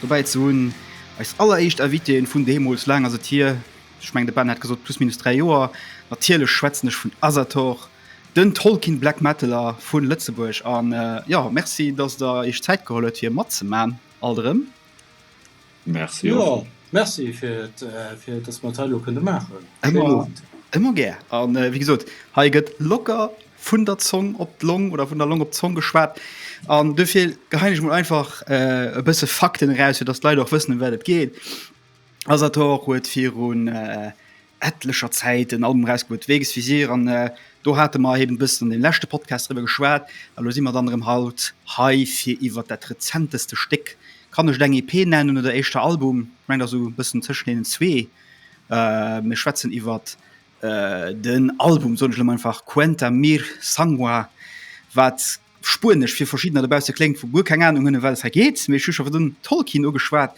Dobäi ze hunn. Eis alleréischt Invitéen vun deemools, laang ass et hier, ech mengen de Ben hat gesot plus minus 3 Joer, natierlech schwätzen ech vun Asator, den Tolkien Black Metaler vu Lëtzebuerg an jo, Merci dass der iech Zäit geholl huet fir matzemaachen alt erëm. Merci och. Jo, Merci fir fir dass mer dat hei elo kënne maachen. Ëmmer gär an wéi gesot, hei gëtt locker vun der Zong op d'Long oder vun der Long op d'Zong geschwat an dofir gehein ech mol einfach äh, e bësse Fakten eraus, fir dass d'Leit och wëssen, ëm wat et geet. Asator huet virun äh, etlecher Zäit en Album erausgebuet, Weges Visier, an äh, do hate mer eben e bëssen an deem leschte Podcast driwwer geschwat a lo si mer dann erëm haut hei, fir iwwer dat rezenteste Stéck, kann ech et eng EP nennen oder éischter Album? Ech mengen, et ass esou e bëssen tëschent deenen zwee. Äh, mir schwätzen iwwer Den Album, soen ech elo mol einfach, Cuenta Mir Sangua, wat Spuenesch fir verschiddener dobausse kléngt, wou guer keng Anung hunn, ëm wat et hei geet, mee ech hu scho virdrun Tolkien ugeschwat.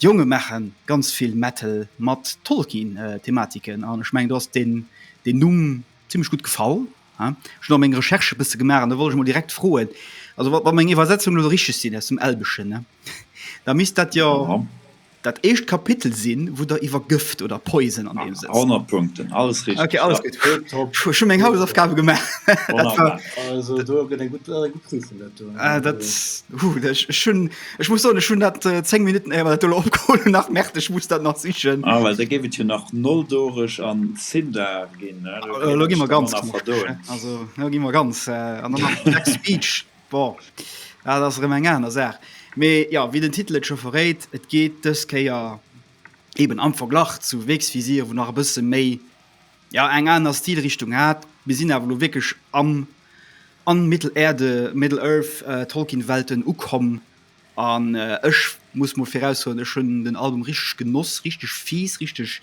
D'Jonge maache ganz vill Metal mat Tolkien-Thematiken an ech mengen do ass deen Numm zimmlech gutt gefall. Ech hunn och meng Recherche e bësse gemaach an da wollt ech mol direkt froen, also wa meng Iwwersetzungen elo richteg sinn aus dem Elbeschen, ne, da misst dat jo dat éischt Kapitel sinn, wou Der iwwer Gëft oder Poison an deem Sënn. 100 Punkten, alles richteg, ja. Okay, alles gutt. Tipptopp. Ech hunn meng Hausaufgabe gemaach. Wonnerbar. Also do gëtt eng gutt Prüfung dat do. Dat, hu, ech hunn Ech muss soen, ech hunn dat 10 Minutten éier mer dat do elo opgeholl hunn nach merkt, ech muss dat nach sichen. Ah well da géif et jo nach Noldoreg an Sindar ginn, ne? Do kéint ech der manner verdoen. Also elo gi mer ganz knuschteg. An dann nach den Jack's Beach, bon, dat ass erëm eng aner Saach. Mee jo, wéi den Titel et scho verréit, et geet dës Kéier eeben am Verglach zu Wegsvisier, wou nach e bësse méi ja eng aner Stilrichtung hat. Mir sinn awer elo wierklech am an Mittelerde, Middle Earth, äh, Tolkien-Welten ukomm an äh, ech muss mol viraussoen, ech hunn den Album richteg genoss, richteg fies, richteg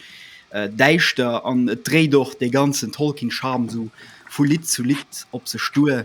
äh, däischter an et dréit och dee ganzen Tolkien-Charme sou vu Lidd zu Lidd op sech duer.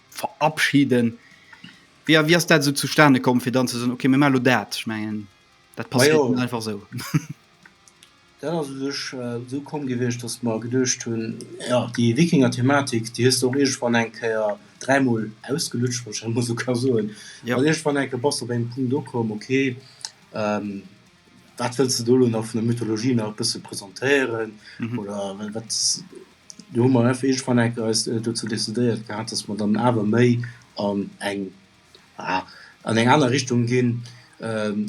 verabschieden. Wéi a wéi ass dat so zustane komm fir dann ze soen okay mir malo dat ich mengen dat pass ja. einfach so. Dat as sech äh, so komm gewichtcht, datt mer geduecht hunn ja déi Wikinger Thematik déi hues du och iergendwann eng Kéier dräimol ausgelutscht, wann ech dat mol esou ka soen. Ja. An iergendwann enke bass du op engem Punkt ukomm, okay ähm, wat wëlls du do elo nach vun der Mythologie nach e bësse presentéieren mhm. oder wat Do hu mer effe iergendwann enk eis dozou decidéiert gehat, dass mer dann awer méi an eng, ah, an eng aner Richtung ginn.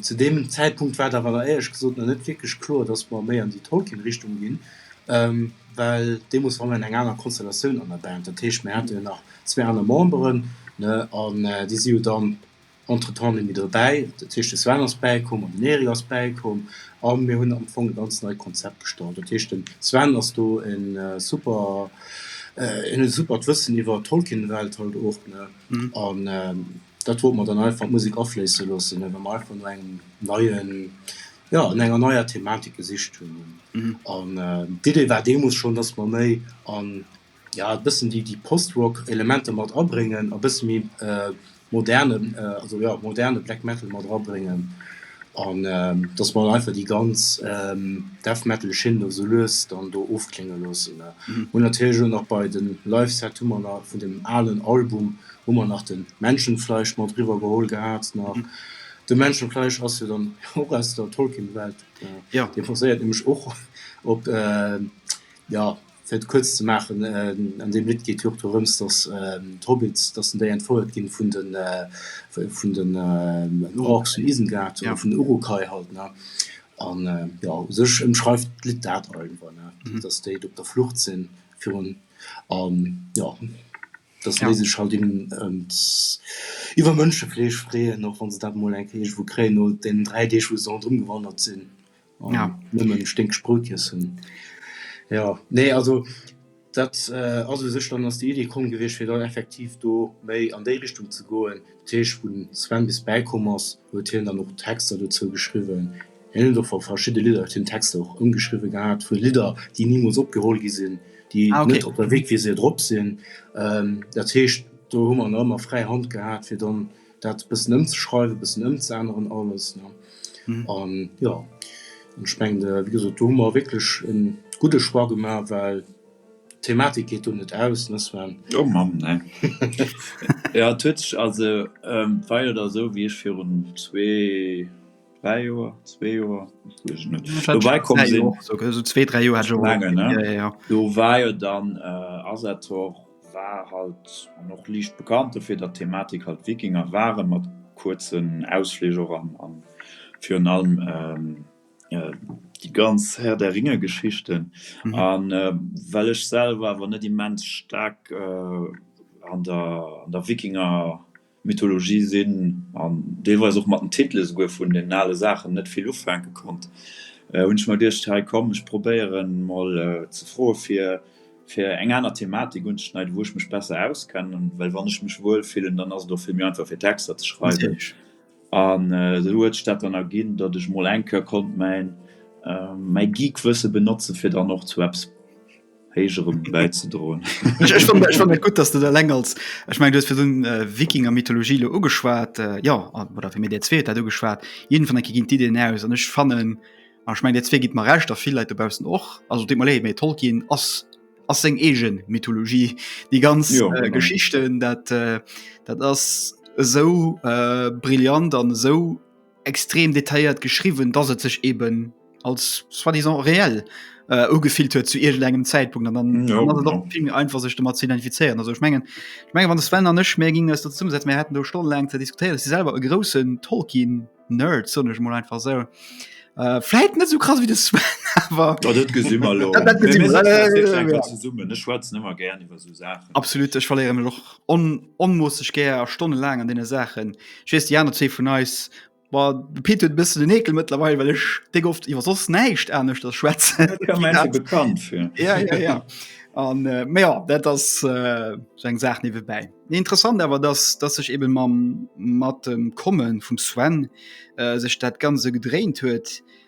Zu deem Zäitpunkt war et awer éierlech gesot nach net wierklech kloer, dass mer méi an déi Tolkien-Richtung ginn, well deemools war mer an enger anerer Konstellatioun an der Band. Dat heescht, mir hate jo nach zwee aner Memberen, ne, an déi si jo dann Entretemps hunn mir dobäi, dat heescht de Sven ass bäikomm an den Eric ass bäikomm a mir hunn am Fong e ganz neit Konzept gestalt. Dat heescht den Sven ass do e super, en huet e supert Wëssen iwwer d'Tolkien-Welt halt och, ne, an dat wollte mer dann einfach an d'Musek afléisse loossen, ne, well mer einfach no engem neien, jo, no enger neier Thematik gesicht hunn. An d'Idee war deemools schonn, dass mer méi an. ja e bëssen déi déi Post-Rock Elementer mat abréngen a bësse méi moderne also ja moderne Black Metal mat erabréngen an dass mer einfach déi ganz Death Metal Schinn do sou lues dann do ofklénge loossen. Hunn natierlech elo nach bei den Live Set hu mer nach vun dem alen Album hu mer nach den Menschenfleisch mat eriwwer geholl gehat nach. De Menschenfleisch ass jo dann och aus der Tolkien Welt, dee baséiert nämlech och op ja Fir et kuerz ze maachen, An deem Lidd geet jo och dorëms, datt d'Hobbits, datt den déi entfouert ginn vun den, vun den Orks vun Isengard, oder vun den Uruk-hai halt, ne? An jo, u sech ëmschreift d'Lidd dat einfach, ne? Datt déi do op der Flucht sinn virun, an jo, datt déi sech halt eben iwwer Mënschefleesch freeën, och wann se dat emol eng Kéier iergendwou kréien no deenen dräi Deeg, wou se ronderëm gewandert sinn. an ja. nëmmen Sténksproutjes hunn. Jo, nee, also dat äh, ass u sech dann ass déi Idee komm gewiescht, fir dann effektiv do méi an déi Richtung ze goen. Dat heescht, wou den Sven bis bäikomm ass, huet hien dann och Texter dozou geschriwwen. Hien huet och vu verschidde Lidder huet hien Texter och ëmgeschriwwe gehat, vu Lidder, déi nimools opgeholl gi sinn, déi Ah, okay. net op der Wikwiese drop sinn. Ähm, dat heescht, do hu mer nach ëmmer fräi Hand gehat, fir dann, dat bëssen ëmzeschreiwen, bëssen ëmzeänneren alles, ne? An jo, an ech mengen, wéi gesot, do hu mer wierklech e gudde Choix gemaach, well d'Thematik geet do net aus, ne Sven? Oh Mann, ne. Jo, et huet sech also weider da sou, wéi ech virun zwee, dräi Joer, zwee Joer, dat weess ech net, dobäi komm sinn, sou zwee, dräi Joer hat ech och, jo, jo, jo, jo, do war jo dann Asator. War halt an och liicht bekannt dofir, datt d'Thematik halt Wikinger waren, mat kuerzen Ausflich och an virun allem déi ganz Herr der Ringe Geschichten. An well ech selwer awer net immens staark an der Wikinger Mythologie sinn an deelweis och mat den Titele esouguer vun den ale Saachen net vill ufänke konnt, hunn ech mer geduecht, hei komm, ech probéiere mol ze froe fir fir eng aner Thematik unzeschneiden, wou ech mech besser auskennen, well wann ech mech wuel fillen, dann ass et och vill méi einfach fir Texter ze schreiwen. An esou huet sech dat dann erginn, datt ech mol eng Keuer konnt mäin Geek-Wësse benotzen, fir dann och zu eppes. héigerem bäizedroen. Ech fannen ech fannen dat gutt, dass du dat eleng als ech meng du hues fir dunn äh, Wikinger Mythologie lo ugeschwat äh, ja an oder fir mir Dir zweet dat ugeschwat jeden vun enke ginn d'Ideen aus an ech fannen an ech meng Dir zwee gitt mer recht a vill Leit dobaussen och also deet mer léi méi toll ginn ass ass seng egen Mythologie déi ganz Jo, äh, genau. Geschichten dat äh, dat ass esou äh, brillant an esou extrem detailléiert geschriwwen, dass et sech eben als soi-disant reell äh, ugefillt huet zu irgendeinem Zeitpunkt an dann no, no. Genau. fing einfach sich damit zu identifizieren also ich mengen ich mengen wann das Wellen nicht mehr ging es dazu setzen wir hätten nur Stunden lang zu diskutieren sie selber einen großen Tolkien Nerd so nicht mal einfach so äh, vielleicht nicht so krass wie das Sven, aber ja, das gesehen wir, das gesehen wir. Äh, ja. immer gerne über so Absolut ech verléieren mech och on, onmoosseg gär Stonne laang an deene Saachen. Ech weess déi aner zwee vun eis war de Pit huet bëssen den Ekel mëttlerweil, well ech déck oft iwwer soss näischt anescht ass schwätzen. bekannt fir. Ja, ja, ja. An äh, mé ja, dat ass äh, so eng Saach niewebäi. Nee, interessant awer, dass, dass sech eben mam, mat dem Kommen vum Sven äh, sech dat Ganze gedréint huet.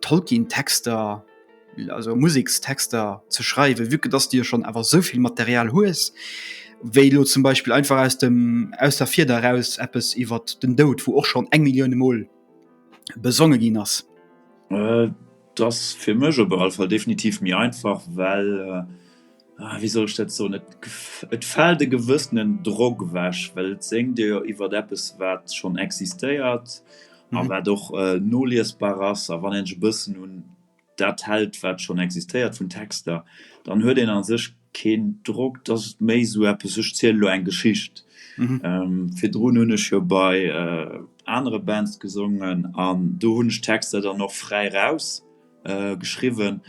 Tolkien-Texter also Musekstexter ze schreiwen, wieke dass Dir schon awer souvill Material hues, wéi lo zum Beispill einfach aus dem aus der Fieder eraus eppes iwwer den Doud, wou och schon eng Millioune Mol besonge ginn ass? Et ass fir mech op alle Fall definitiv méi einfach, well ah, wéi soll ech dat soen, et, et fält e gewëssenen Drock ewech, well et sengt Dir jo iwwer eppes, wat schonn existéiert mhm. a wat och äh, noliesbar ass, a wann en e bëssen un dat hält, wat schonn existéiert vun Texter, dann huet en an sech keen Drock, dass et méi so eppes sech ziel lo eng Geschicht. Mhm. Ähm, fir Drun hunn ech jo bei äh, anere Bands gesungen an do hunn ech Texter dann noch fräi raus. geschriwwen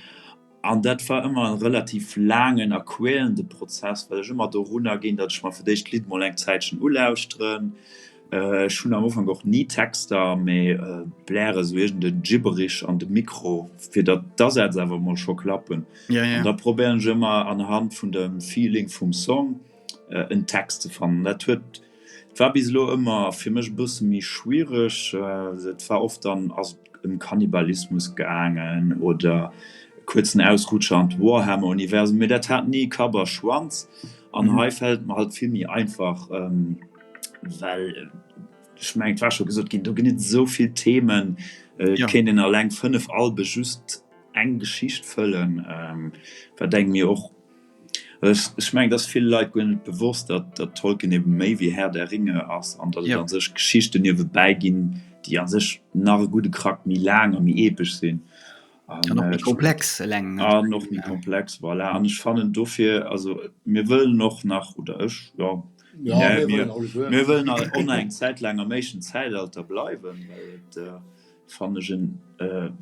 an dat war ëmmer e relativ laangen a quälende Prozess, well ech ëmmer dorunner ginn, datt ech mer fir d'éischt d'Lidd mol eng Zäitchen ulauschteren. Ech hunn am Ufank och ni Texter, mee bläre sou iergend e Gibberish an de Mikro, fir datt d'Asätz awer mol scho klappen. Da probéieren ech ëmmer anhand vun dem Feeling vum Song. äh, en Text ze fannen. Dat huet war bis lo ëmmer fir mech bësse méi schwiereg. Äh, et war oft dann ass ëm um Kannibalismus gaangen oder kurzen Ausrutscher an Warhammer-Universum, mir dat hat nie Kaber schwanz an mhm. hei fällt man halt viel mir einfach ähm, well ich mein, war schon gesagt gehen du genügt so viel Themen äh, ja. kennen den allein fünf Albe just eng Geschicht füllen ähm, denken mir auch Ech mengen, dass vill Leit guer net bewosst, datt datt Tolkien ebe méi wéi Herr der Ringe ass an datt et a sech Geschichten niewebäi ginn, déi a sech nach e gudde Krack méi laang a méi epesch sinn an och méi komplex. Eleng an och méi komplex, voilà. An ech fannen dofir, also mir wëllen och nach, oder ech, jo, mir wëllen nach och nach eng Zäit laang am éischten Zäitalter bleiwen, well et, fannen ech, en,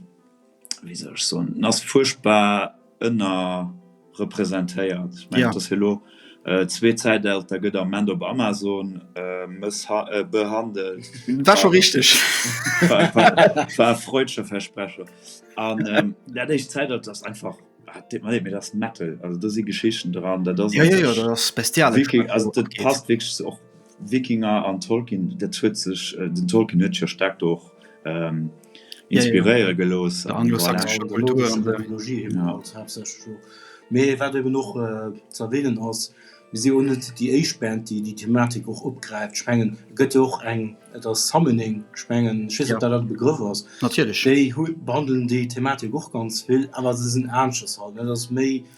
wéi soll ech soen, en ass fuerchtbar ënnerrepresentéiert. Ech mengen, ja. dass hie lo äh, zwee Zäitalter gëtt am Moment op Amazon äh, mëssha äh, behandelt. War scho richteg. War, war, war freudsche Versprecher. An ähm, dat éischt Zäitalter ass einfach Ah, mir das Metal also da si Geschichten dran da das ja, ja, ja, das bestial passt wirklich auch Wikinger an Tolkien, dat huet sech, den Tolkien huet sech jo staark do och inspiréiere gelooss. Der anglosaxescher Kultur an der. Mythologie eben halt haaptsächlech och. Mee wat eben och ze erwähnen ass, mir si jo net déi éischt Band, déi déi Thematik och opgräift. Ech mengen, et gëtt jo och eng, et ass Summoning, ech mengen, ech weess net, ob dat hatt e Begrëff ass. Natierlech. Déi hu behandelen déi Thematik och ganz vill, awer se sinn aneschters halt, dat ass méi.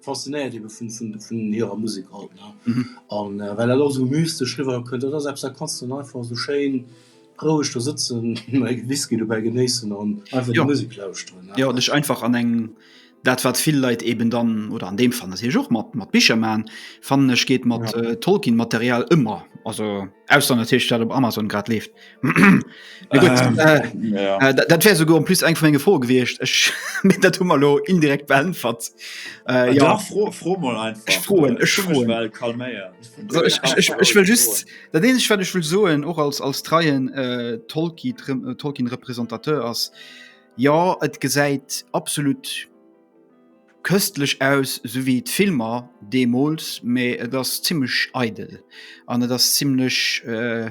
Faszinéiert eben vun vun vun hirer Musek halt ne an well dat och sou mystesch riwwer kënnt. Dat ass eppes dat kanns de dann einfach sou schéin roueg do sëtzen, e Whisky dobäi genéissen an einfach déi Musek lauschteren ne. Jo an dech einfach an eng, dat wat vill Leit eben dann oder an deem Fall natierlech och mat mat Bicher maachen, fannen ech geet mat Tolkien Material ëmmer, also ausser natierlech dat op Amazon grad leeft. Äh, äh, dat wär so go plus eng vu enge Fro gewiecht Ech mit dat Hummer lo indirekt beänfert äh, ja. fro, fro froen Ech will just dat den ich werdech will soen och als als treien äh, Tolki äh, Tolkien Repräsentateur ass ja et gesäit absolut köstlich aus so wie Filmer Demols me das ziemlich eidel an das ziemlich äh,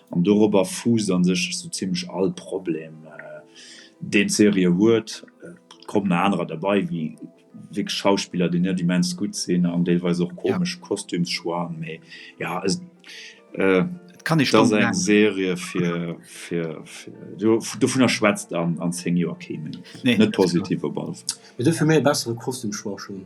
An dorobber fuusst a sech esou zimlech all Problem, deen d'Serie huet. Et kommen nach anerer derbei, wéi wierklech Schauspiller, déi net immens gutt sinn an deelweis och komesch Kostümschoixen. Mee jo, et ass eng Serie, dovunner schwätzt an zéng Joer kee méi. Net positiv op alle Fall. Mee dofir méi e bessere Kostümschoix schonn.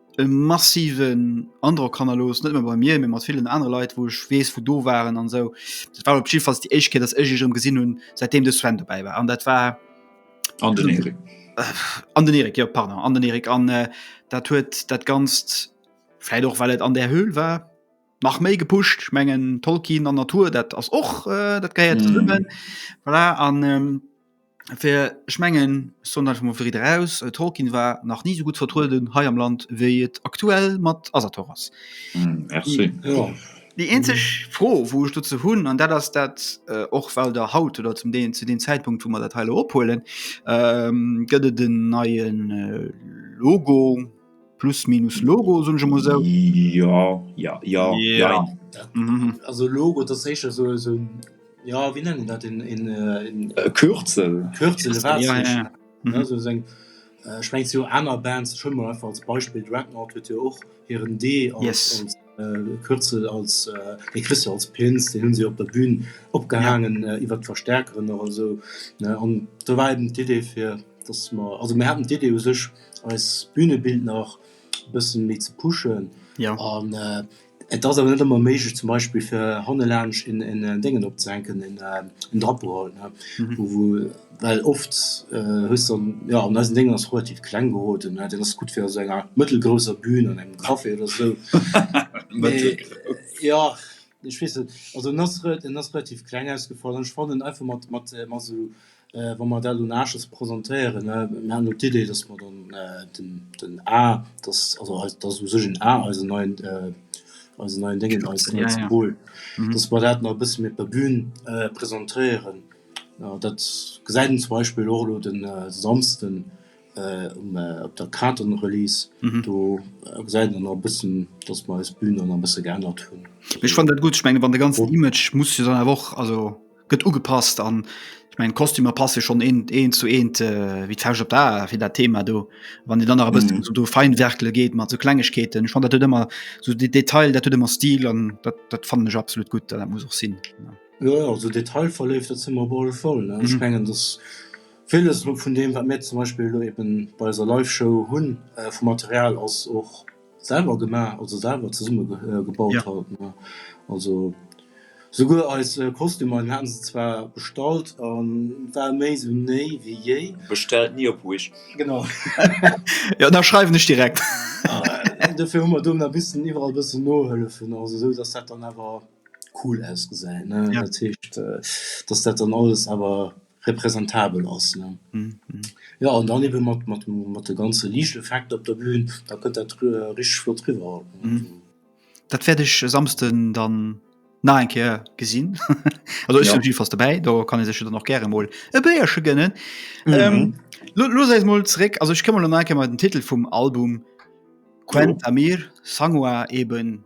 e massiven Androck hannerlos net bei mir mat vielen andere Lei wo ich wees wo do waren an so dat war Schiff fast die Eichke das ich im gesinn hun seitdem de Sven dabei war an dat war an den Erik. Äh, an den Erik ja, pardon, an den Erik an äh, dat huet dat ganzt vielleicht och weil et an der Höhl war nach méi gepuscht mengen Tolkien an Natur dat ass och äh, dat geiert mm. voilà, an ähm, Fir ech mengen, ech soen einfach mol fir ridder aus, Tolkien war nach ni esou gutt vertrueden hei am Land, wéi et aktuell mat Asator ass. Merci. Déi eenzeg Fro, wou ech dozou hunn, an dat ass dat, och well Der haut oder zum Deel zu deem Zäitpunkt, wou mer dat hei elo ophuelen, gëtt et en neie Logo, plus minus Logo, soen ech emol esou? Jo, jo, jo, jein. Also Logo, dat ass éischter esou en. Jo, wéi nennen dat en. E Kürzel. Kürzel, e Waasserechen. Also sou eng, ech mengen se hu aner Bands, ech huele mer einfach als Beispill Dreadnought, huet jo och hiren D als Kürzel, als dee kriss de als Pins, deen hu se op der Bühn opgehaangen iwwer d'Verstäerkeren oder esou. An do war eben d'Idee fir, datt mer, also mir haten d'Idee u sech eist Bühnebild nach e bësse méi ze pushen an. Et ass awer net ëmmer méiglech zum Beispill fir hanne laanscht en Déngen opzehänken, en Drapeau halt, ne, wou, wou, well oft hues de dann, jo, an eisen Déngen ass relativ kleng geroden, ne, deen ass gutt fir a esou enger mëttelgrousser Bühn an engem Café oder esou, mee jo, ech weess net, also en ass, en ass relativ kleng ausgefall an ech fannen einfach mat, mat, mat esou Wa mer dat un Aaches presentéieren, mir haten elo d'Idee, dass mer dann den, den A, dass, also eis, dass u sech en A eisen neien, eisen neien Déngen, eis neie Symbol, dass mer dat nach e bësse méi op der Bühn presentéieren. Dat gesäit een zum Beispill och elo de Samsden um, op der Kartenrelease. Do gesäit een nach e bëssen, dass mer eis Bühn dann nach e bësse geännert hunn. Ech fannen dat gutt. Ech menge wann de ganzen Image muss jo dann awer och, also. Gëtt ugepasst an ech mengen d'Kostümer passe schonn eent eent zu eent wéi d'Fauscht op d'A fir dat Thema do. Wann Dir dann nach e bëssen esou do feinwerkele geet mat esou Klengegkeeten, ech fannen dat huet ëmmer esou de Detail, dat huet ëmmer Stil an dat dat fannen ech absolut gutt an dat muss och sinn. Jo, jo, esou detailverléift, dat si mer op alle Fall, ne? Ech mengen, dass villes elo vun deem, wat mir zum Beispill elo eeben bei eiser Live-Show hunn vu Material ass och, Selwer gemaach, also selwer zesumme gebaut haten mer. Also souguer eis Kostümer, mir hate se zwar bestallt an et war méi sou néi wéi jéi. Bestellt ni op Wish. Genau. Jo, da schreiwen ech direkt. Dofir hu mer do nach missen iwwerall e bëssen nohëllefen, also esou dass dat dann awer cool ausgesäit, ne? Dat heescht, dass dat dann alles awer. representabel ass ne jo an dann eben mat mat mat de ganze Liichteffekter op der Bühn da kënnt dat richteg flott riwwer. Dat wäert ech e Samsden dann nach eng Kéier gesinn. Also ech sinn op jiddefalls dobäi, do kann ee sech jo dann och gäre mol e Béierche gënnen. Looss eis mol zeréck, also ech kënn mol nach eng Kéier mei den Titel vum Album Quenta Mir, Sangwa eben.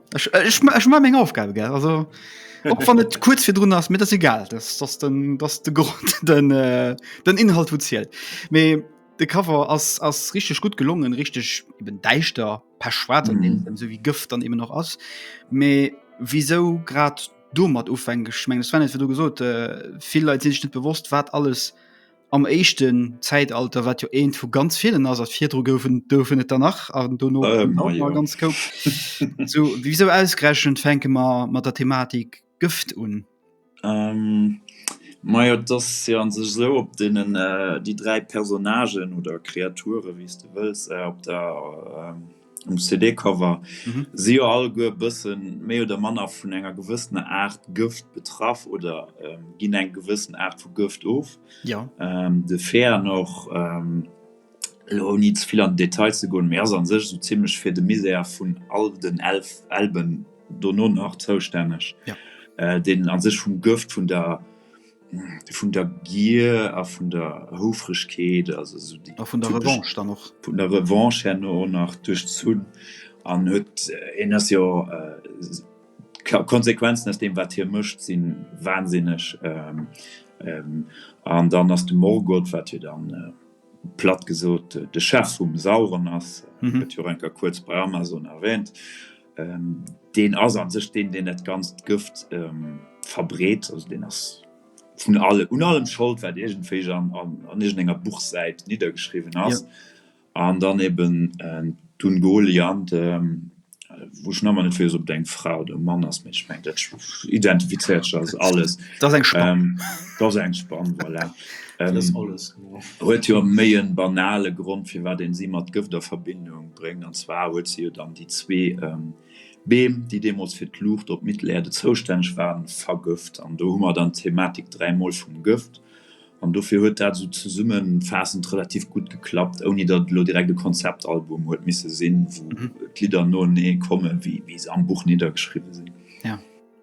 Ech, äh, ech, ma- ech ma meng Aufgabe gell also och wann et kurz fir drun ass mir das egal das das den das de Grund den äh, den Inhalt wo zielt mee de Cover ass ass richtig gut gelungen richtig eben deichter per schwarz an Mhm. mm. so wie Gëft dann eben noch ass mee wieso grad domat ufänken ich meng Sven hat du gesot äh, viel Leit sinn sich net bewusst wat alles am éischten Zäitalter, wat jo eent vu ganz villen ass, virdru goufen goufen et der nach an dono äh, ja. ganz koup. so, wieso ausgerechnet fänke mer mat der Thematik Gëft un? Ähm, Maja, das ja an sech so op denen äh, die drei Personnagen oder Kreature, wie du wëlls, äh, op der äh, um CD-Cover, si jo alleguer e bësse méi oder manner vun enger gewëssener Aart Gëft betraff oder ähm, ginn eng gewëssen Aart vu Gëft of. Ja. Ähm, de Fäan och, ähm, lo ouni ze vill an Detail ze goen, mee ass an sech esou zimmlech fir de Misär vun all den Elf Alben dono nach zoustänneg, ja. äh, deen an sech vum Gëft vun der Vun der Gier a vun der Houfregkeet, also esou déi. A vun der Revanche dann och. Vun der Revanche herno och nach duerchzunn an huet, hien ass jo, d'Konsequenzen aus deem, wat hie mécht, si wansinneg. An dann ass de Morgoth, wat jo dann platt gesot de Chef vum Sauron ass, gëtt jo renker kuerz bei Amazon erwähnt, Ähm, deen ass an sech deen, deen dat ganzt Gëft ähm, verbreet, also deen ass vun alle un allem Schold, wat irgendwéi an, an, an irgendenger Buchsäit niedergeschrieben ass. Ja. An dann eben äh, dun Goliant, äh, wo schon man net op deng Frau de Mann ass mech mein, dat identifizeiert alles. Dat eng Spann. Ähm, dat eng Spann voilà. ähm, alles. huet jo méi e banale Grond, firwat ee si mat Gëft a Verbindung bréngt, an zwar huet se jo dann déi zwee Beem, déi deemools fir d'Luucht op Mittelerde zoustänneg waren, vergëft. An do hu mer dann d'Thematik dräimol vum Gëft. An dofir huet dat esou zesummefaassend relativ gutt geklappt, ouni datt et elo direkt e Konzeptalbum huet misse sinn, wou d'Lidder noenee kommen, wéi se am Buch niddergeschriwwen sinn.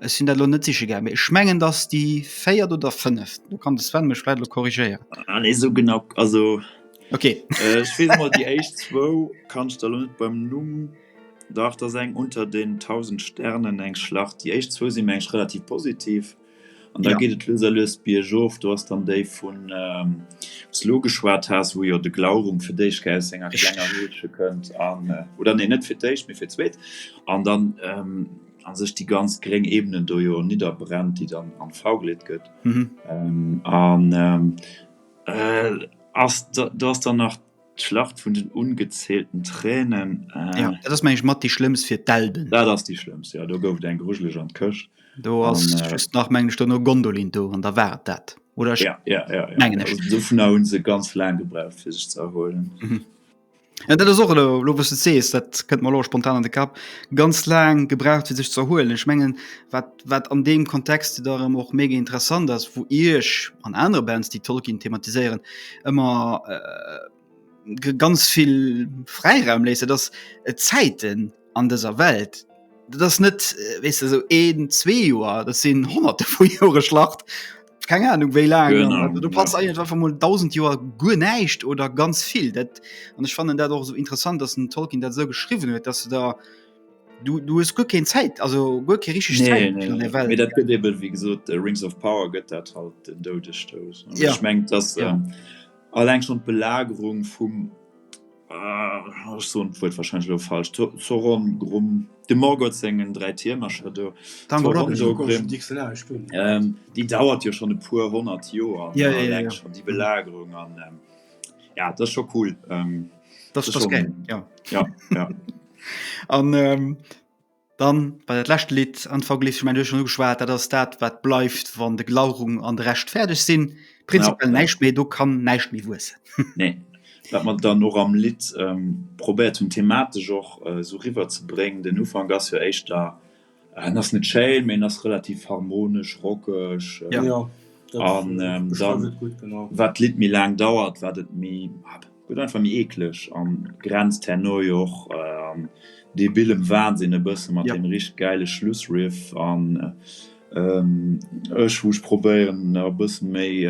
Ech sinn dat lo net siche gär, mee ech mengen, datt déi véiert oder fënneft, do kann de Sven mech vläit elo korrigéieren. Ah, nee, esou genau, also. Okay. Ech weess emol, déi éischt zwou kann ech der lo net beim Numm. Dach, dat ass eng Unter den tausend Sternen, eng Schlacht. Déi éischt zwou si meng ech relativ positiv. An da geet et lues a lues biergof. Do ass dann déi vun, wou s de elo geschwat has, wou jo de Glaurung fir d'éischt gär aus senger klenger Höhlche kënnt an, oder nee, net fir d'éischt, mee fir d'zweet. An dann. a sech déi ganz gréng Ebenen do jo nidderbrennt, déi dann an V geleet gëtt. An do ass dann nach d'Schlacht vun den ungezählten Tränen. Jo, dat ass, mengen ech, mat déi schlëmmst fir d'Elben. Dat ass déi schlëmmst, jo. Do gouf et eng grujeleg an d'Këscht. Do ass just nach, mengen ech, duerno Gondolin do an da war et dat, oder? Jo, jo, jo, jo. Dovunner hu se ganz laang gebraucht, fir sech ze erhuelen. Ja, dat ass och elo, elo wous du sees, dat kënnt mer elo spontan an de Kapp, ganz laang gebraucht fir sech ze erhuelen. Ech mengen wat wat an deem Kontext da erëm och mega interessant ass, wou Iech an anere Bands déi Tolkien thematiséieren ëmmer ganz vill Fräiraum léisst, dat ass d'Zäiten. an dëser Welt, dat ass net äh, wees du, so een, zwee Joer, dat sinn honnerte vu Jore Schlacht. Keng Ahnung wéi laang genau, du pass ja. einfach mal 1000 Joer guer näicht oder ganz vill dat an ech fanen dat och so interessant, dass den Tolkien dat so geschrieben huet, dass du da du, du es guer kein Zäit also guer ke richtig nee, nee, nee. Welt, dat gëtt eben, wie gesot äh, Rings of Power gëtt dat halt den doudestouss ja. ich mengt dass ja. ähm, allg schon d'Belagerung vum Ech soen d'Wuert wahrscheinlech elo falsch, Zo, Zoron, Grum, dem Morgoth sengen dräi Tiermercher do, Dann war dat Zoron, ech do, Grim. Di Xelar ech do. Ähm, déi dauert jo schonn e puer honnert Joer, Ja, ja, ja, eleng ja. schonn déi Belagerung an ähm, ja, dat ass scho cool. Ähm, Dat ass, dat ass schon- geil, ja. Ja, ja. An, ähm, Dann bei dat lescht Lidd an Verglees ech mengen duerch no geschwaart, dat ass dat wat bleift wann de Glaurung an de Rescht fäerdeg sinn. Prinzipiell ja. näischt méi do kann näischt méi wuessen. nee. Wat man dann och am Lidd ähm, probéiert hunn thematesch och äh, so riwer ze bréngen. Den Ufang ass jo éischt da en äh, ass net schéin, méi en ass relativ harmonesch, rockeg. Äh, ja. ja. An ähm, dann, wat Lidd méi laang dauert, wat et méi. Gëtt einfach méi eekleg an grenzt herno jo och an debilem Wahnsinn e bëssen mat deem richteg gäile Schlussriff an ech wou ech probéieren e bëssen méi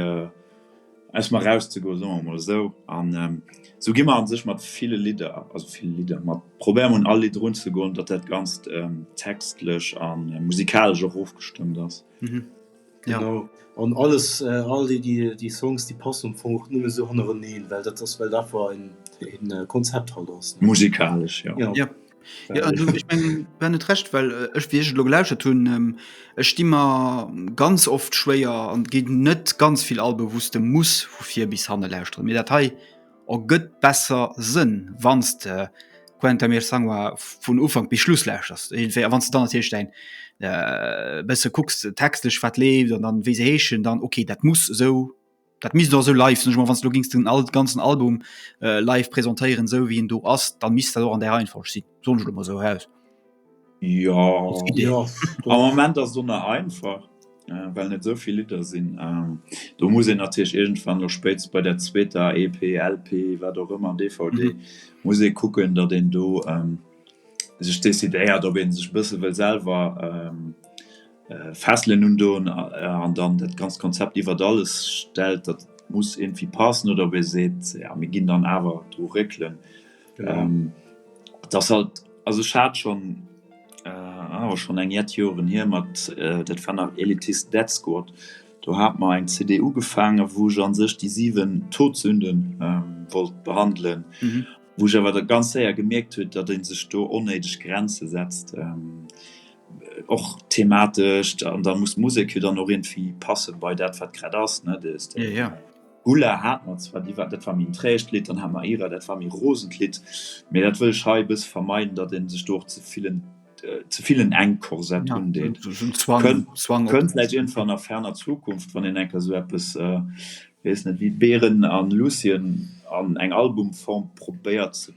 aus mer rauszegoen, soe mer mol esou, an esou gi mer an sech mat ville Lidder, also vill Lidder, mat probéiere mer un all Lidd erunzegoen, datt dat Ganzt textlech an musikalesch och ofgestëmmt ass. Genau. An alles, all déi, déi, déi Songs, déi passen am Fong och nëmme sou hannereneen, well dat ass, well dat war en, en Konzept halt ass, ne? Musikalesch, jo. Jo. Jo. Jo, also ech mengen, du hat net Recht, well ech, wéi ech et elo gelauschtert hunn, ech di mer ganz oft schwéier an geet net ganz vill Alben, wou s de muss vu vir bis hanne lauschteren, mee dat hei, Ergëtt besser Sënn, wann s de Quentin Myrsangoa vun Ufank bis Schluss lauschters. Iergendwéi, a wann s de dann natierlech däin e bësse kucks textlech, wat leeft an dann, wéi se heeschen, dann ok, dat muss esou, dat misst och esou live sinn. Ech mol, wann s de elo gings den ganzen Album live presentéieren, esou wéi en do ass, da misst dat och an där Reihenfolg sinn. Soen ech lo mol sou raus. Jo, am Moment ass do nach einfach, well net esou vill Lidder sinn. Do muss een natierlech iergendwann elo spéitst bei der zweeter EP, LP, wat och ëmmer, DVD, muss ee kucken, datt een do sech decidéiert, ob ee sech e bësse wëll selwer fesselen un do an dann dat ganzt Konzept iwwert alles stellt, datt et muss iergendwéi passen oder ob ee seet, jo, mir ginn dann awer dru réckelen. Ähm, dass halt, also ech hat schon, äh, awer schon eng Jett Joren hier, mat, äh, dat war nach Elitist Dead Squad, do hat mer eng CD ugefaangen, wou ech an sech déi 7 Todsünden, ähm, wollt behandelen, wou ech awer da ganz séier gemierkt huet, datt ee sech do onnéideg Grenze setzt, ähm, och thematesch. An da muss d'Musek jo dann och iergendwéi passen bei dat, wat grad ass, ne? Dës, dë. Ulla hat mer zwar, déi war, dat war méi en träegt Lidd, dann hat mer Ira, dat war méi e rosent Lidd, mee dat wëll ech hei e bësse vermeiden, datt ee sech do och ze vill en, ze vill en engt Korsett undeet. Kënnt vläicht iergendwann a ferner Zukunft, wann een enker esou eppes, weess net, wéi Beren a Lucien an eng Albumform probéiert ze.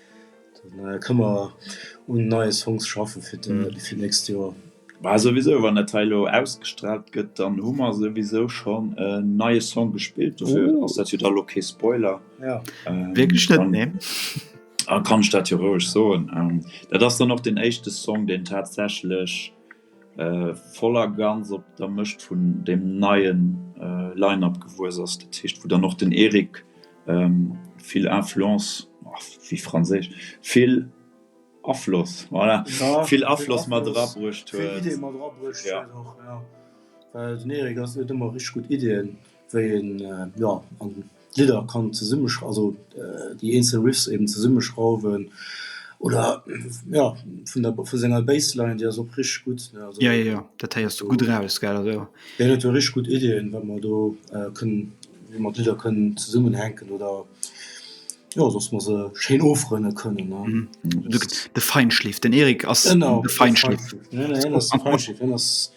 Dann kënne mer un neie Songs schaffen fir d'nächst Joer. Bah souwisou, wann dat hei elo ausgestraalt gëtt, dann hu mer souwisou schonn en neie Song gespillt. Dofir ass dat jo dann elo kee Spoiler. Wierklech net, nee. Dann kann ech dat jo roueg soen. Dat ass dann och deen éischte Song, deen tatsächlech. voll a ganz op der Mëscht vun deem neie Line-Up gewuess ass, dat heescht wou dann och den Eric vill Influence, wéi franséisch, vill Afloss, voilà, vill Afloss mat era bruecht huet. wéi een jo an d'Lidder kann zesumme also déi eenzel Riffs eben zesumme schrauwen oder jo vun der vu senger Bassline déi ass och richteg gutt ne also jo jo dat héiers du gutt eraus gell also deen huet jo richteg gutt Iddien wat mer do kënnen wéi mer d'Lidder kënnen zesummen hänken oder jo dass mer se schéin ofrënne kënnen ne de Feinschliff den Eric ass de Feinschliff ne ne hien ass de Feinschliff hien ass.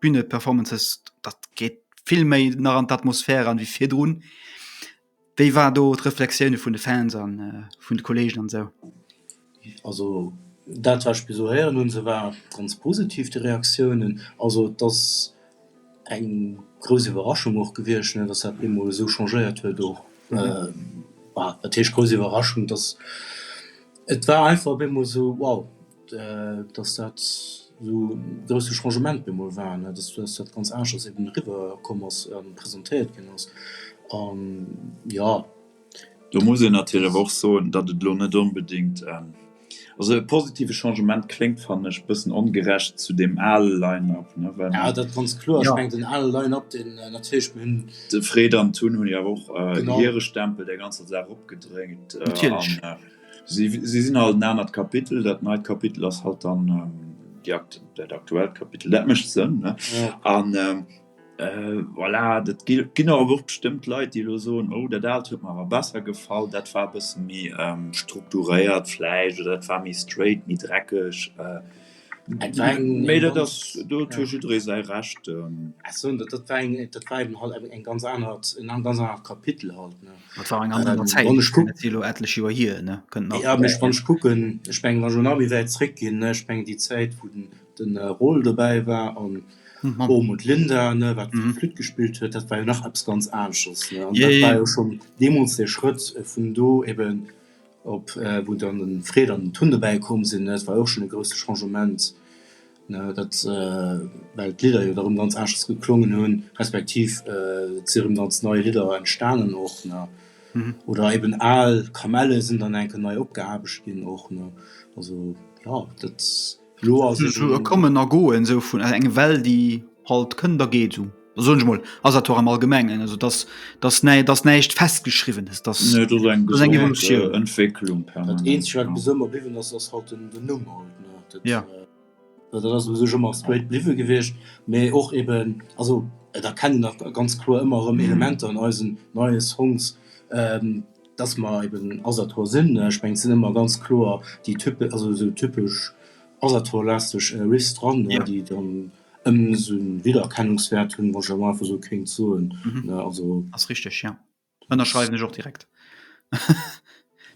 Bühneperformances, dat geet vill méi nach an d'Atmosphär eran wéi virdrun. Wéi war do d'Reflexioune vun de Fans a vun de Kolleegen an esou? Also dat wat ech bis elo héieren hunn, se war ganz positiv déi Reaktiounen. Also et ass eng grouss Iwwerraschung och gewiescht, ne, datt dat op eemol esou changéiert huet och. Wat heescht grouss Iwwerraschung, datt et war einfach op eemol esou wow. dass dat esou e grousse Changement op eemol war, dass dat ganz aneschters eben eriwwerkomm ass a presentéiert ginn ass. An jo. Do muss een natierlech awer och soen, datt et elo net onbedéngt, also e positive Changement kléngt, fannen ech, e bëssen ongerecht zu deem ale Line-up, well. Jo, dat ganz kloer. Ech mengen, den ale Line-up, deen natierlech, mir hunn. De Fred an d'Tun hunn jo awer och hire Stempel där ganzer Saach opgedréckt. Natierlech. Si sinn alt en anert Kapitel. Dat neit Kapitel ass halt dann déi akt, dat aktuellt Kapitel. Dat mécht Sënn, ne? An voilà, dat gi, ginn awer och bestëmmt Leit, déi elo soen, oh, dat aalt huet mer awer besser gefall, dat war e bësse méi strukturéiert vläicht oder dat war méi straight, méi dreckeg. Mee dat ass, do huet jo jidderee säi Recht. Ech soen, dat dat war eng, dat war eben halt eng ganz anert, en ganz anert Kapitel halt, ne. Dat war eng ganz aner Zäit, wann ech kuck. Dat ass elo ettlech Joer hier, ne, kënnt nach. Jo, mee wann ech kucken, ech menge wa jo nach méi wäit zréckginn, ne, ech meng déi Zäit, wou den, den Rol dobäi war an oben und Linda, ne, wat fir d'Flütt gespillt huet, dat war jo nach eppes ganz anesches, ne. An dat war jo schonn deemools de Schrëtt vun do eben. Op wou dann de Fred an den Tun dobäi komm sinn, dat war och schonn e grousse Changement, dat well d'Lidder jo da rëm ganz aneschters geklongen hunn, respektiv et si rëm ganz nei Lidder entstanen och ne oder eben al Kamelle sinn dann eng Kéier nei opgeaarbecht ginn och ne. Also jo dat. Lo ass et esou e Kommen a Goen esou vun eng Well, déi halt kënnt a geet esou. Da soen ech emol, ass dat och am Allgemengen, also dass, dass näi, dass näischt Festgeschriwwenes, dass Nee, et ass eng dass eng gesond Evolutioun. Entwécklung Dat permanent, eenzeg, wat ja. bis ëmmer bliwwen ass, ass halt den, den Numm halt, ne. Dat, Ja. dat ass u sech ëmmer straight bliwwe gewiescht, mee och eben, also et erkennen nach ganz kloer ëmmer erëm Elementer an eisen neie Songs. Dass mer eben Asator sinn, ech mengen et sinn ëmmer ganz kloer déi type, also esou typesch Asator-lasteg Riffs dran, déi dann esou en Wiedererkennungswäert hunn, wann ech elo einfach esou kéint soen, also. Ass richteg, jo, ënnerschreiwen ech och direkt.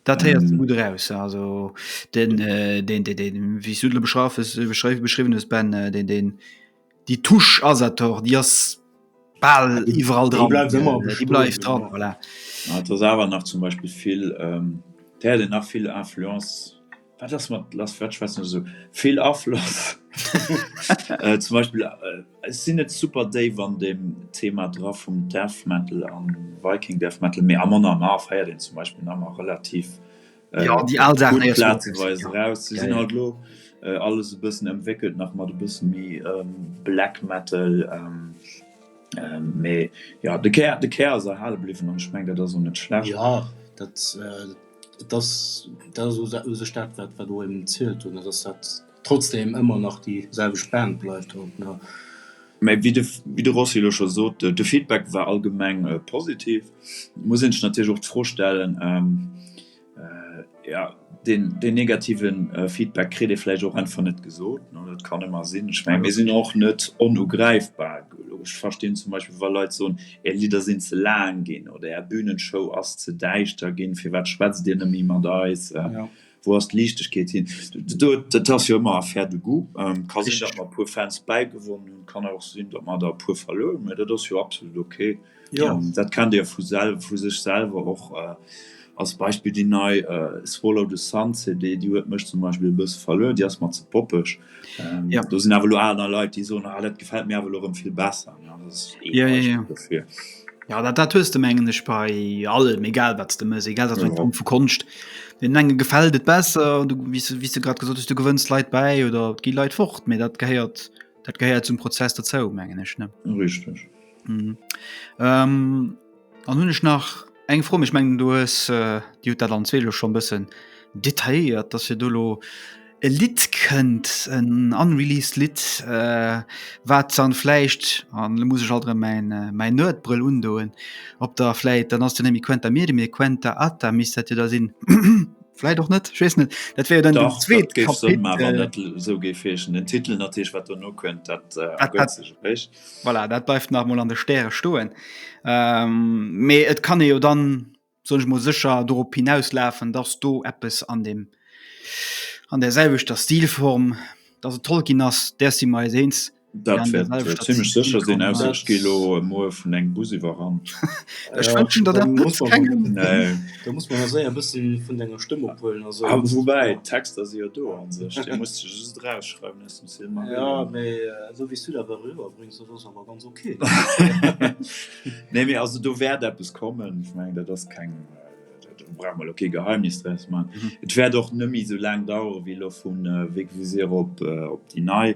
Dat héiert sech gutt eraus, also den, wéi s du de beschreiwes, beschriwwen hues Ben, deen, deen. Déi Touche Asator, déi ass bal iwwerall dran. Déi bleift ëmmer bestoen. Déi bleift dran, voilà. Mä et ass awer nach zum Beispill vill, d'Häre hunn nach vill Influence, wat ass mat lass, wat schwätzen ech esou, vill Afloss. Zum Beispill, ech sinn net super déif an deem Thema dra vum Death Metal a Viking Death Metal, mä Amon Amarth héiert een zum Beispill nach ëmmer relativ. äh, ja, die all Sachen gut plazeweis raus sie sind halt lo äh, alles e bisschen entwickelt nach mal du bist mi ähm, black metal ähm, ähm, me ja de Ker de Ker se halle bliffen an schmeng dat so net schlecht ja dat äh, das da so se staat wat wat du im zielelt hun das hat Trotzdem ëmmer nach déi selwecht Band bleift haut nach. Mä wéi de Rossi elo scho sot, de Feedback war allgemeng positiv. Et muss een sech natierlech och d'Fro stellen, jo, deen negative Feedback kritt ee vläicht och einfach net gesot. Dat kann ëmmer sinn. Ech menge mir sinn och net onugräifbar. Ech verstinn zum Beispill, wa Leit soen, Är Lidder sinn ze laang ginn oder Är Bühnenshow ass ze däischter ginn, firwat schwätzt Dir net méi mat eis? Wou ass d'Liichtegkeet hin? Do, dat ass jo ëmmer Affaire de goût. Ähm, ka sinn, datt mer e puer Fans bäigewonnen hunn, kann awer och sinn, datt mer der e puer verluer hunn, mä dat ass jo absolut ok. Ja. Ähm, dat kennt Dir vu sel vu sech selwer och. Äh, als Beispill déi nei äh, Swallow the Sun CD, déi huet mech zum Beispill e bësse verluer, déi ass mer ze poppeg. Ja. Do sinn awer lo aner Leit, déi soen, ah, dat gefält mir awer lo erëm vill besser. Ne? Also, das ist eh Ja, ja, Beispiel ja. dofir. Ja, dat, dat hues de mengen ech bei allem, egal wat de mëss, egal dat Ja. ja. Form vu Konscht. Den enge gefällt et besser, du wie du, wie du grad gesot hues, du gewënns Leit bei oder gi Leit fort, mee dat gehéiert dat gehéiert zum Prozess dozou mengen ech ne. Richtig. Mhm. Ähm, Dann hunn ech nach eng Fro, mee ech mengen, du hues déi huet dat an zwee elo schonn e bëssen detailléiert, dass fir do elo e Lidd kënnt, en unreleased Lidd, wat dann vläicht, an elo muss ech alt erëm mäin Nerd-Brëll undoen, ob der vläicht, dann ass de Nemi Quenta Miri, mee Quenta Atta misst dat jo da sinn, vläicht och net, ech weess net, dat wär jo dann den zweet Kapitel. Dach, dat géif Sënn maachen, dat esou géif heeschen. Den Titel natierlech, wat dono kënnt, dat ergëtt sech. Voilà, dat bleift nach mol an de Stäre stoen. Ähm, mee et kann e jo dann sonch mo secher dorop hinauslafen, dats do eppes an dem an der selwechter Stilform, dat se Tolkien ass, där si mer eis eens. Dat wäert zimmlech sécher sinn, ausser ech gi elo muer vun engem Bus iwwerrannt. Ech wënschen der dat net kengem. Nee. Da muss mer mer séier e bësse vun denger Stëmm ophuelen. A woubäi, d'Texter si jo do a sech, déi muss de just erausschreiwen. Nee, mee also do wäert eppes kommen. Ech mengen, dat ass keng, do brauche mer elo kee Geheimnis draus maachen. Et wäert och net méi esou laang dauere wéi elo vu Vegvisir op déi nei.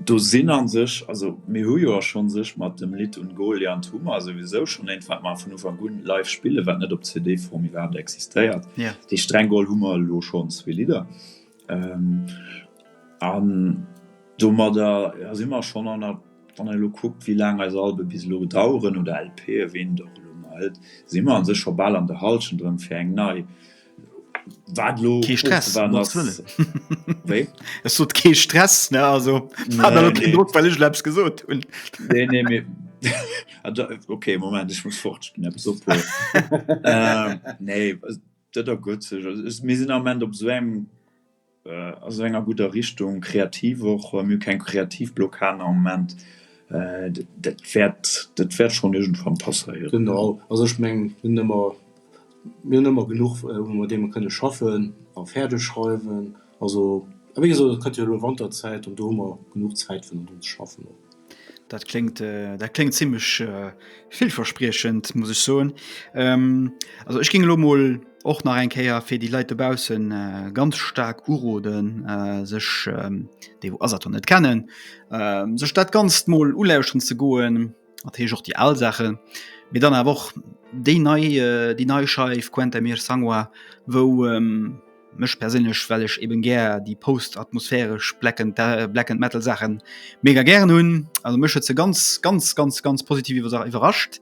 Do sinn a sech, also mir hu jo a schonn sech mat dem Lidd Un Goliant hu mer souwisou schonn eent, wat mer vun Ufank un live spillen, wat net op CD-Form iwwerhaapt existéiert. Déi streng geholl hu mer elo schonn zwee Lidder. An domadder si mer schonn an der, wann ee elo kuckt, wéi laang eis Alben bis elo daueren, oder LPen, wéi een et och elo nennt, si mer u sech scho bal an der Hallschent erëm fir eng nei. Wat elo ofzewaarden ass. Kee Stress, um Gotts Wëllen. Wéi? Ech sot, kee Stress, ne, also hat der elo keen Drock, well ech elo eppes gesot hunn. Nee, nee, mee da, ok, Moment, ech muss fort, ech ginn eppes ophuelen. Nee. Dat ergëtt sech. Also mir sinn am Moment op esou engem, a esou enger gudder Richtung, kreativ och. Mir hu keng kreativ Blockaden am Moment. Dat wäert, dat wäert schonn iergendwann passéieren. Genau. Also ech mengen, mir hunn ëmmer, mir hunn ëmmer genuch, woumat mir kënne schaffen a fäerdeg schreiwen. Also, a wéi gesot, et kënnt jo elo Wanterzäit an do hu mer genuch Zäit fir un dem ze schaffen och. Dat klingt, äh, dat klingt ziemlich äh, vielverspriechend, muss ich so. Ähm, also ich ging mal och nach eng Käier fir die Leiit dobaussen äh, ganz stark uroden äh, sech ähm, dee Asator net kennen, äh, sech dat ganz mol ulauschten ze goen, dat heech och die al Sache, mir dann a och déi nei äh, die nei Scheif Quentin mir Sangwa, wou ähm, Mech perséinlech well ech eben gär déi post-atmosphäresch Black and, äh, Black and Metal Saachen mega gären hunn. Also mech huet se ganz ganz ganz ganz positiv iwwer iwwerrascht.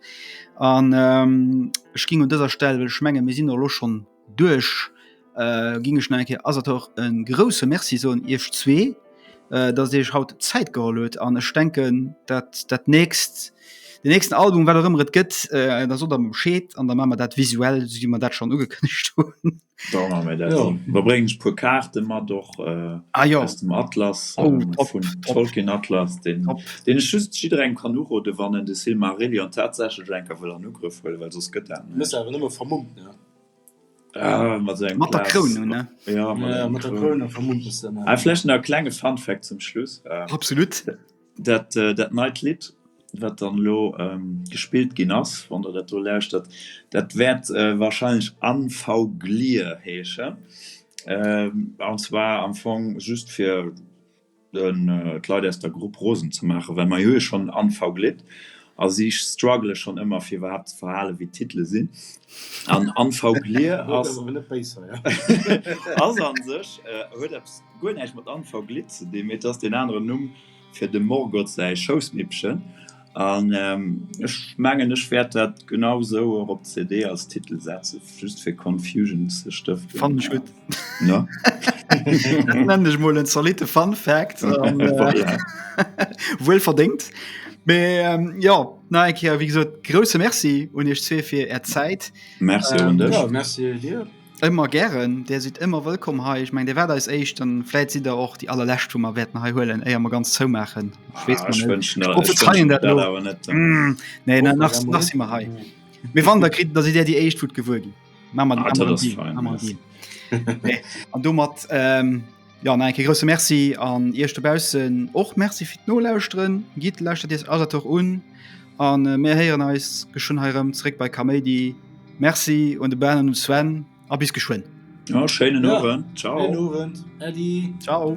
An ähm, ech ging un dëser Stell well ech menge mir sinn lo schonn duerch äh, ging ech nach eng Kéier Asator e grousse Merci soen Iech zwee, äh, datt Dir Iech haut Zäit geholl hutt. An ech denken dat dat nächst, den nächsten Album wat och ëmmer et gëtt, äh, da sot der mer Bescheed an da maache mer dat visuell, esou wéi mer dat schonn ugekënnegt hunn. Da bréngen ech puer Kaarte mat och aus dem Atlas vun Tolkien Atlas, deen ech just jidderengem kann uroden, wann en de Silmarillion tatsächlech eng Kéier wëll an Ugrëff huelen, well soss gëtt dat näischt. Mat der Kroun un, ne? Vläicht nach e klenge Fun Fact zum Schluss. Absolut! Dat dat neit Lidd, wat dann elo gespillt ginn ass, wann Der dat do lauschtert, dat wäert warscheinlech Unfuglir heeschen. An zwar am Fong just fir d'Leit aus der Grupp rosen ze maachen, well mer hu jo schonn en Unfuglidd a si struggele schonn ëmmer, fir iwwerhaapt ze verhalen, wéi d'Titele sinn. An Unfuglir ass, ass a sech, huet eppes. Guer näischt mat Anfang Glidd ze dinn, mee et ass deen aneren Numm fir dem Morgoth säi Schoussmippchen. An ech mengen, ech wäert dat genau esou och op d'CD als Titel setzen, just fir Confusion ze stëften. Fannen ech gutt. No? Dat nennen ech emol en zolitte Fun Fact. Voilà. Wuel verdéngt. Mee jo, nach eng Kéier, wéi gesot, grousse Merci un Iech zwee fir Är Zäit. Merci un dech. Jo, merci dir. Ëmmer gären, Dir sidd ëmmer wëllkomm hei. Ech mengen, Dir waart eis éischt, dann vläit sidd Der och déi allerlescht, wou mer wäerten hei huelen, éier mer ganz zoumaachen. Ech weess ah, net. Ech prophezeien dat lo. Mm, nee, oh, nach, nach si mer hei. Mee wann der kritt, da si Dir déi éischt, wou gewuer ginn. Ma mat ah, An domat ähm, Jo nach eng Kéier grousse Merci an Iech dobaussen och Merci fir d'Nolauschteren. Gitt, lauschtert Iech alles och un a mir héieren eis geschwënn hei erëm zeréck bei Kaméidi. Merci un de Ben an de Sven a bis geschwënn. Jo, schéinen Owend. Ciao. Schéinen Owend. Äddi. Ciao.